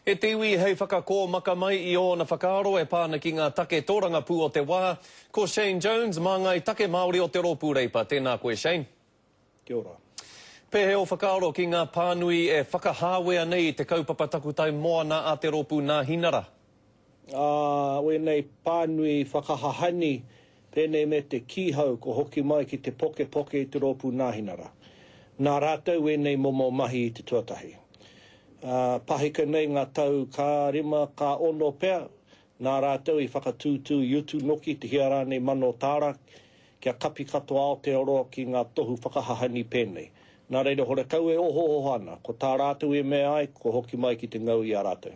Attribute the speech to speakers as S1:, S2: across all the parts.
S1: E te iwi hei whakakōmaka mai i ōna whakaaro e pā ana ki ngā take tōrangapū o te wā. Ko Shane Jones, māngai take Māori o te Rōpū Reipa. Tēnā koe, Shane. Kia ora.
S2: Pēhea ō
S1: whakaaro ki ngā pānui e whakahāwea nei i te kaupapa takutai moana a te rōpū Nāhinara? ā,
S2: wēnei pānui whakahahani pēnei me te kīhau kua hoki mai ki te pokepoke i te rōpū Nāhinara. Nā rātou wēnei momo mahi i te tuatahi. Ā, pahika nei ngā tau ka rima, ka ono pea, nā rātou i whakatūtū i utu noki te hia rānei mano tāra Kia kapi katoa Aotearoa ki ngā tohu whakahahangi pēnei. Nā reira horekau e ohooho ana, ko tā rātou i mea ai, kua hoki mai ki te ngau i a rātou.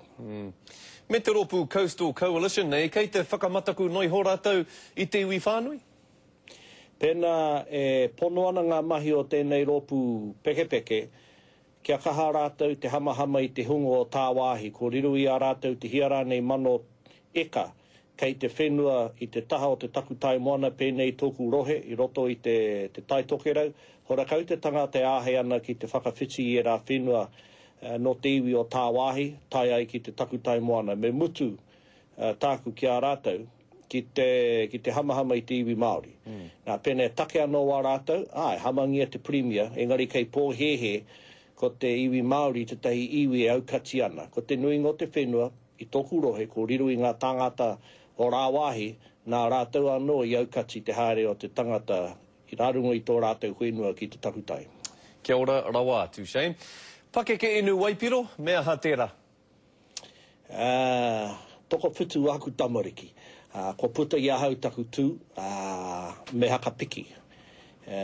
S2: Me te
S1: rōpū Coastal Coalition nei, kei te whakamataku noa iho rātou i te iwi whānui? Pēnā
S2: e pono ana ngā mahi o tēnei rōpū pekepeke, Kia kaha rātou te hamahama i te hunga o tāwāhi, ko riro i a rātou te hia rānei mano eka kei te whenua i te taha o te takutai moana pēnei tōku rohe i roto i te te Tai Tokerau, horakau te tangata e āhei ana ki te whakawhiti i ērā whenua nō te iwi o tāwāhi, tae ai ki te takutai moana. Me mutu tāku ki a rātou. ki te, ki te hamahama i te iwi Māori. Nā, pēnā e take anō wā rātou, ā, e hamangia te Pirimia, engari kei pōhēhē ko te iwi Māori tētahi iwi e aukati ana. Ko te nuinga o te whenua i tōku rohe ko riro i ngā tāngata o rāwāhi, nā rātou anō i aukati te haere o te tangata i rā runga i tō rātou whenua ki te takutai. Kia ora
S1: rawa atu, Shane. Pakeke inu waipiro, me aha tērā? Ā,
S2: toko putu āku tamariki. Ā, kua puta i ahau taku tū, ā, me haka piki. Ē,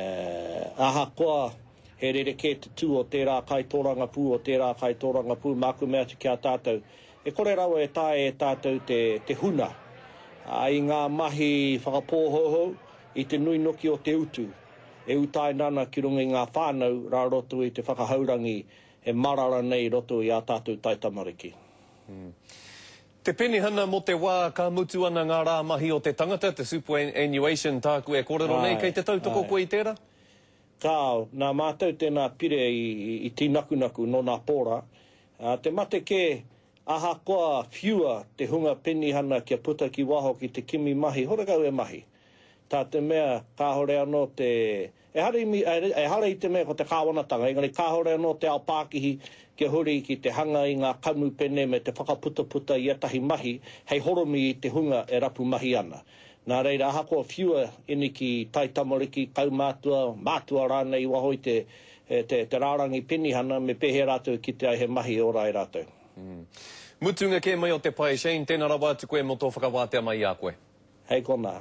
S2: ahakoa he rerekē te tū o tērā kaitōrangapū, o tērā kaitōrangapū, māku mea atu ki a tātou, e kore rawa e taea e tātou te, te huna ai ngā mahi whakapōhouhou i te nui noki o te utu e utaina ana ki runga i ngā whānau rā roto i te whakahaurangi E marara nei i roto i ā tātou taitamariki.
S1: Te penihana mō te wā ka mutu ana ngā rā mahi o te tangata, te superannuation tāku e kōrero nei, kei te tautoko koe i tērā? Kāo,
S2: nā mātou tēnā pire i tīnakunaku nō nā pōra. Te mate kē, ahakoa whiua te hunga penihana kia puta ki waho ki te kimi mahi, horekau e mahi. Tā te mea, kāore anō te Ehara i te mea ko te kāwanatanga, engari kāore anō te ao pākihi kia huri ki te hanga i ngā kamupene me te whakaputaputa i ētahi mahi hei horomi i te hunga e rapu mahi ana. Nā reira, ahakoa whiua, iniki, taitamariki, kaumātua, mātua rānei i waho i te rārangi penihana, me pēhea rātou e kite ai he mahi e ora ai rātou.
S1: Mutunga kē mai o te
S2: pae,
S1: Shane, tēnā rawa atu koe mō tō whakawātea mai i a koe. Hei konā.